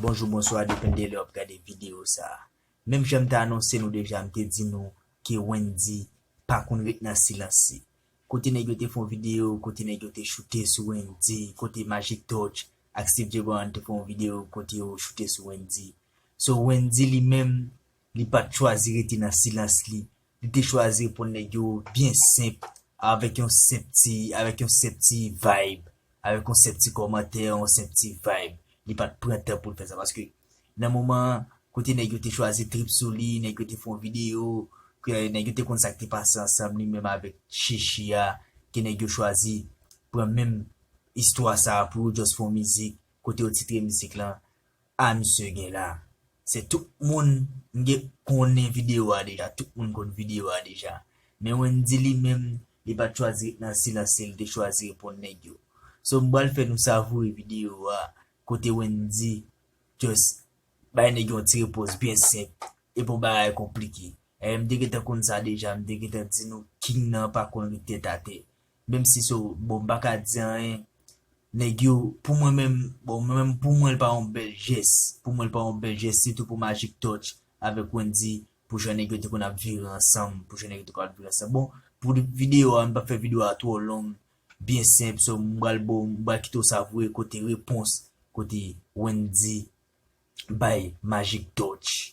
Bonjou bonswa depende lè wap gade video sa menm janm t anonse nou deja m te di nou ke Wendy pa konn ret nan silans si kote nèg yo te fon video kote nèg yo te choute sou Wendy kote Magic Touch ak Steve Djebran te fon video kote yo choute sou Wendy so Wendy li menm Li pa t chwazi rete nan silans li, li te chwazi reponn nèg yo byen senp, avèk yon senp ti, avèk yon senp ti vayb, avèk yon senp ti kòmantè, yon senp ti vayb. Li pa t pran tan pou l fè sa paske nan moman an, kote nèg yo te chwazi trip sou li, nèg yo te fè yon videyo, ke nèg yo te konn sa k te pase ansanm li menm avèk Sheshy a, ke nèg yo chwazi pran menm istwa sa a pou yo just fè yon mizik, kote yo titre mizik lan. Ah misye gen la se tout moun mgen konnen video a deja tout moun konn video a deja men Wendy li menm li pat chwazi ret nan silans li li te chwazi reponn nèg yo so m pral fè nou savoure video a kote Wendy just bay nèg yon ti repons byen senp e pou bagay konplike eh m te gentan konn sa deja m te gentan di nou king nan pa konn ret tèt atè Menm si so bon m paka di anyen nèg yo pou mwen menm bon mwen menm pou mwen l pa yon bèl jès pou mwen l pa yon bèl jès sitou pou Magic Touch avèk Wendyy pou jan nèg yo te konn ap vire ansanm pou jan nèg yo te konn ap vire ansanm bon pou videyo a m pap fè videyo a twò long byen senp so m pral bo m pral kite w savure kote repons kote Wendyy bay Magic Touch.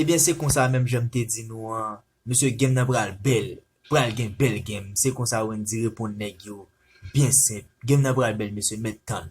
Ebyen se konsa menm janm te di nou an mesye game nan pral bèl pral gen bèl game se konsa Wendy reponn nèg yo byen senp game nan pral bèl mesye mèt tann.